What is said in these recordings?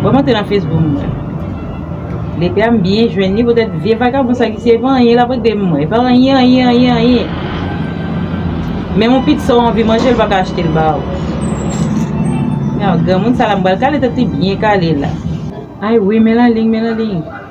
Mwen monte nan Facebook m wè. Lepè a m byen jwenn li poutèt vye vagabon sa ki se pa anyen l ap regle m wè. Pa anyen anyen anyen anyen. Menm yon pitsa w anvi manje l pa ka achte l ba w. Granmoun sa la m pral kale tèt li byen kale la. Ay wi Melaling Melaling.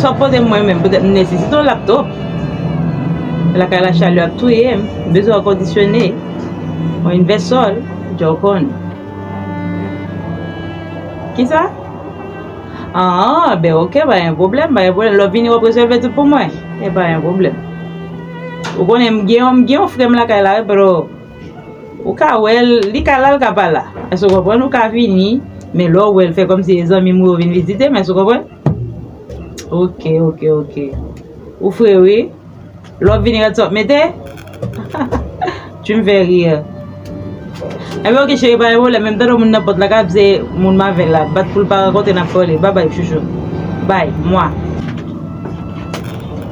Sa w poze m mwen menm, petèt m nesesite yon laptop. Lakay la chalè ap touye m, m bezwen èkondisyone, yon invèsò, djò w konn. Kisa? An, ben ok, pa gen pwoblèm, pa gen pwoblèm. Lè w vini w ap rezève tout pou mwen? E pa gen pwoblèm. Ou konnen m gen yon frè m lakay la wi bro. Ou ka wèl, li ka la, li ka pa la. Èske ou konprann? Ou ka vini, men lè ou wèl, fè kòm si e zanmim ou yo vin vizitem. Èske ou konprann? Ok, ok, ok. Ou fre wi. Lè wap vini rad sa wap mete? Tu me fais rire. Enben ok cheri pa gen pwoblèm, menm tande moun nan pòt la kap se moun m avèl la, bat poul pa rakonte nap pale. Babay chouchou. Bay. Mwa.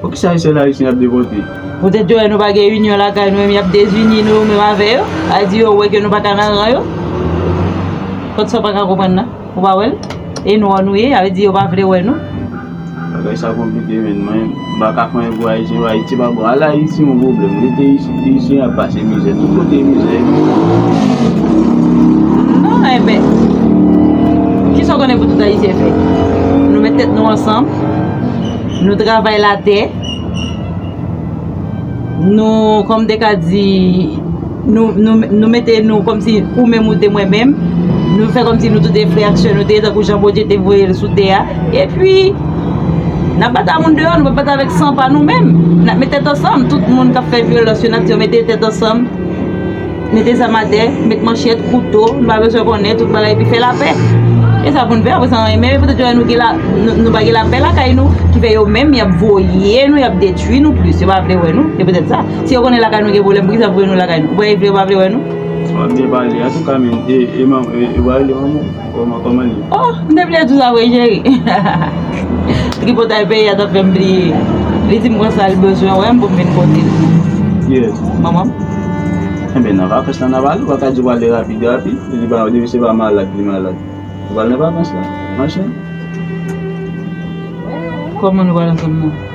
Poukisa Ayisyen Ayisyen ap devòte? Poutèt yo wè nou pa gen inyon lakay nou menm y ap dezini nou menm avè yo. A di yo wè ke nou pa ka nan ran yo. Kot sa w pa ka konprann nan? Ou pa wè l? E nwa nou ye, a vle di yo pa vle wè nou. Bagay sa konplike menn, mwen pa ka konprann pou Ayisyen wè Ayiti pa bon. Al Ayiti yon pwoblèm, rete isit Ayisyen ap pase mizè. Tout kote mizè e mizè. Non enben, kisa w konnen pou tout Ayisyen fè? Nou met tèt nou ansanm. Nou travay la tè Nou kòm de ka di Nou mete nou kòm si ou menm ou te mwen menm Nou fè kòm si nou tout e frè ak sè nou te Tankou jan Bondye te voye l sou tè a E pi N ap bat a moun deyò Nou pa bat avèk san pa nou menm N ap met tèt ansanm Tout moun k ap fè vyolans yo n ap di yo mete tèt ansanm Mete zam atè, met manchèt, kouto, nou pa bezwen konnen tout bagay epi fè lapè. E sa pou n fè apre sa anyen. Men yo poutèt yo wè nou pa gen lapè lakay nou ki fè yo menm y ap voye nou, y ap detwi nou plis. Yo pa vle wè nou, se poutèt sa. Si yo konnen lakay nou gen pwoblèm, poukisa yo voye nou lakay nou? Ou kwè yo vle yo pa vle wè nou? Wap byen pale, antouka men, e manman, e yo pa rele manman w? Kòman kòman ye? Oh m te bliye di w sa vre cheri hahahaa Tripotay peyi a t ap fè m bliye Li di m kon sa l bezwen wè m pou m vin pote l Ki yès? Manman m Enben nan vakans la n ap ale w a ka di w ale rapid rapid li pa depi se pa malad li malad Nou pral nan vakans la Anchen Kòman nou pral ansanm nan?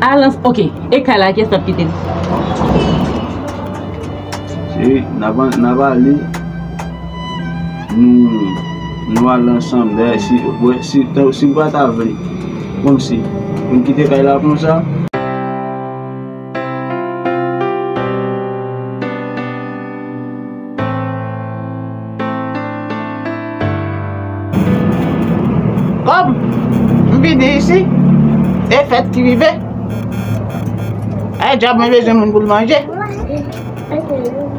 Alan ok e kay la kyes kap kite. Cheri nap ale nou ale ansanm dayè si pata vle komsi pou m kite kay la konsa. Kom m vini isi e fèt ki rive e djòb mwen bezwen moun pou l manje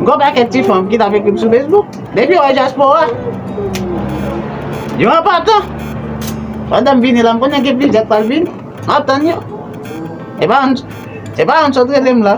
Gon pakèt ti fanm ki t ap ekri m sou Facebook depi yo wè dyaspora yo anpatan pandan m vini la m konnen gen plizyè k pral vini m ap tann yo e pa youn sot rele m la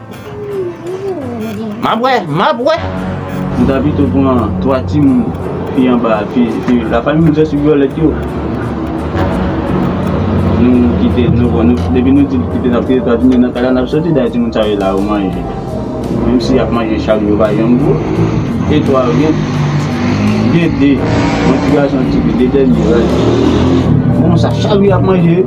Map wè, map wè. M ta pito pran 3 timoun fi anba a, fi la fanmi m se sou vyolèt yo. Nou kite nou bon nou depi nou di kite nap kite 3 timoun nan kay la nap soti dayè timoun sa yo la yo manje. Menm si yap manje chak jou pa janm gou. E 3 yo gen gen 2 yon ti gason yon ti fi 2 dènye rad. Bon sa chak jou yap manje.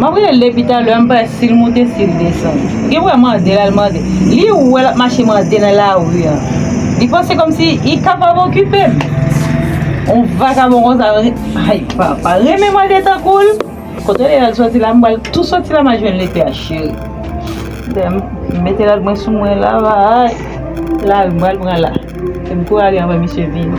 Map rele epi talè an bay sil moute sil desann li wè mande lal mande li wè lap mache mande nan lari an li panse komsi li kapab okipem on vakabon konsa hay papa renmen mande tankoul kote li al soti la mbal tou soti la ma jwenn li epi a cheri lèm mete lal mwen sou mwen la vay lari mbal pran la fem kou ale anvan misye vini.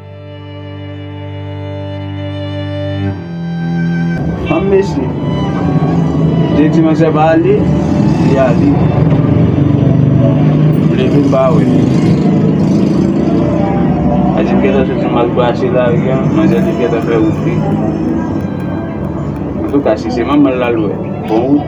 An mesye. Te di manzè pa ale, li ale. Vle vin pa we. A di mketa se ti mal pase la ri an, manzè te keta fè wout li. An tou ka si se manman l lal we, bon wout.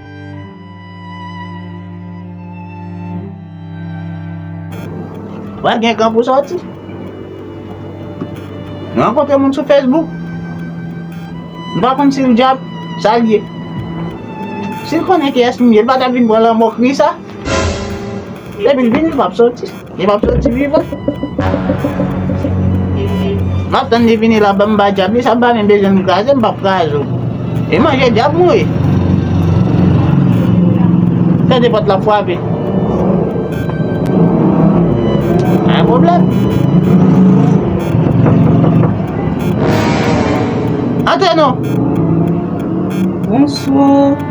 Wè gen kan pou sòti. Mwen ankontre moun sou Facebook. Mwen pa konn si l djab, sa l ye. Si l konnen ki es m ye, l pa ta vin pran lanmò kri sa. Depi l vini l pap soti. Li pap soti vivan. M ap tann li vini l ap ban m ba dyab li. Sa pa menm bezwen m kraze m pap kraze w. Li manje dyab mwen wi. Tande pòt la ap frape. Pa gen pwoblèm. Antre non. Bonswa.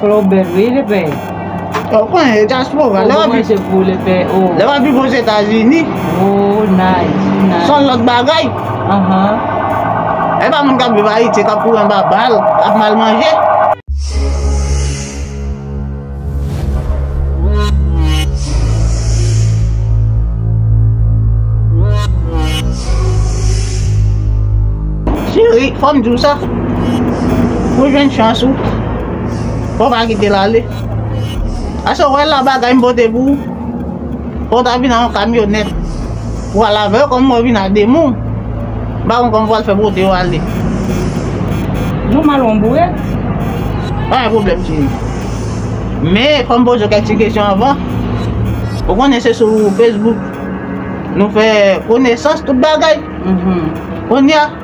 Claw bèl wi li bèl. Ou konnen e diaspora lè wap viv pou li bèl oh. Lè wap viv ozetazini. Oh nice nice. Son lòt bagay. Ahh. Epa moun kap viv ayiti kap kouri anba bal, kap mal manje. Cheri fòm diw sa. Ou jwenn chans ou. Bon pa kite l ale. Ase wè la bagay m pote pou ou. Fò w ta vin an kamyonèt. Ou al avè yo kòm ou vin a 2 moun. M pa konn kòman w pral fè pote yo ale. Nou mal on bourèt. Pa gen pwoblèm cheri. Men fò m poze w kèk ti kesyon anvan. Ou konnen se sou Facebook nou fè konesans tout bagay. Kounye a.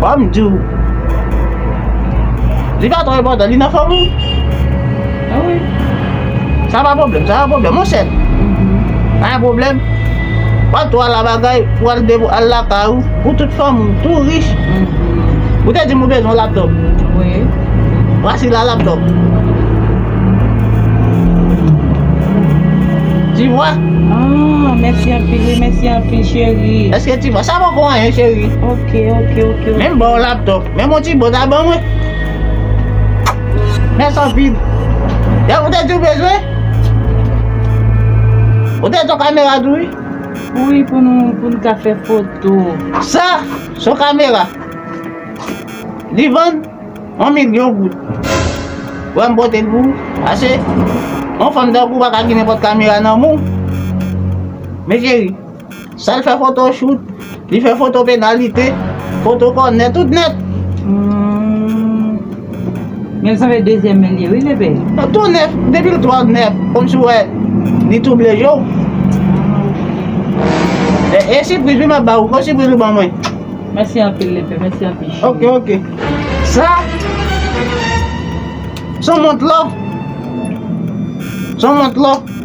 Wap m di w Li pa tro enpotan li nan fom ou Sa pa pwoblem sa pa pwoblem ou sèt Pa gen pwoblem Wap tro ala bagay pou al depo al lakay ou Pou tout fom ou tou rich Ou te di m ou bezwen yon laptop Vwasi la laptop Ti vwa Mèsi anpil wi mèsi anpil cheri Mwen sa pa pou anyen cheri. Ok ok ok. Menm baw laptop. Menm yon ti bòt a ban mwen. Mès anpil. Dev ou te di ou bezwen? Ou te di yon kamera tou wi? Wi pou nou pou nou ka fè foto. Sa se yon kamera. Li vann 1 milyon goud. Wè m pote l pou ou. Ase yon fanm tankou w pa ka gen nenpòt kamera nan men w. Men cheri. Sa l fè foto chout, li fè foto penalite, foto kònè, tout nèt. Men sa fè dezyèm men li wi Pepe. Nan tou nèf, depi l twòp nèf, kòm si w wè li twouble je w. E, e sipriz wi m ap ba ou, fo sipriz ou ban mwen. Mèsi anpil Lepe, mèsi anpil cheri. Ok, ok. Sa, s on mont lò. S on mont lò.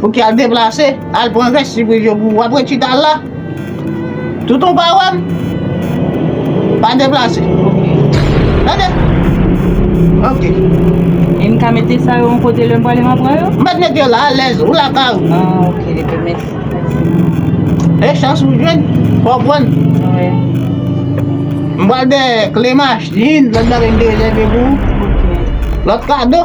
Pouki al deplase al pran vesti pou yo pou wap ret chita al la tout ou pa wèm pa deplase tande ok. E m ka mete sa yo yon kote lè m prale m ap pran yo? M pa t mete yo la alèz, ou lakay ou. Ah ok, ok, mèsi. E chans ou jwenn, fò pran. Wè. M pral de kle machin, lòt bagay m te rezève pou. Ok. Lòt kado.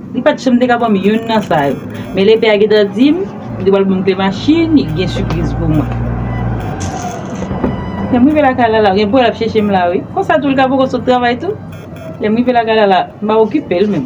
M pat sure m te ka banm youn nan sa yo. Men lepè a gentan dim li pral banm kle machin li gen sipriz pou mwen. Lèm rive lakay la la gen pou el ap cheche m la wi. Konsa tou li ka poko sot travay tou. Lèm rive lakay la la m pa okipe l menm.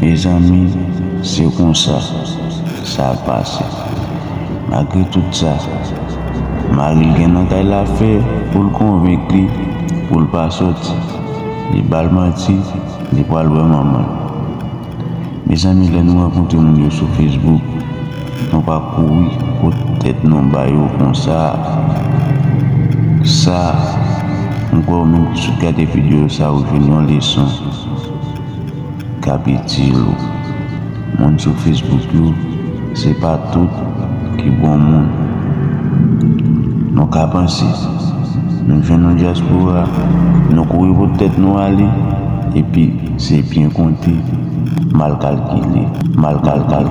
Mezanmi se konsa sa pase malgre tout sa maril gen nan kay la fè poul konvenk li poul pa soti li bal manti li pwal wè manmanl. Mezanmi lè nou rankontre moun yo sou Facebook nou pa kouri pot tèt nou ba yo konsa sa m kwè ou menm ki sot gade video sa ou jwenn yon leson kap itil ou moun sou Facebook yo Se pa tout ki bon moun. Nou ka panse. Nou jwenn yon dyaspora, nou kouri pot tèt nou ale, epi se byen konte, mal kalkile, mal kalkile.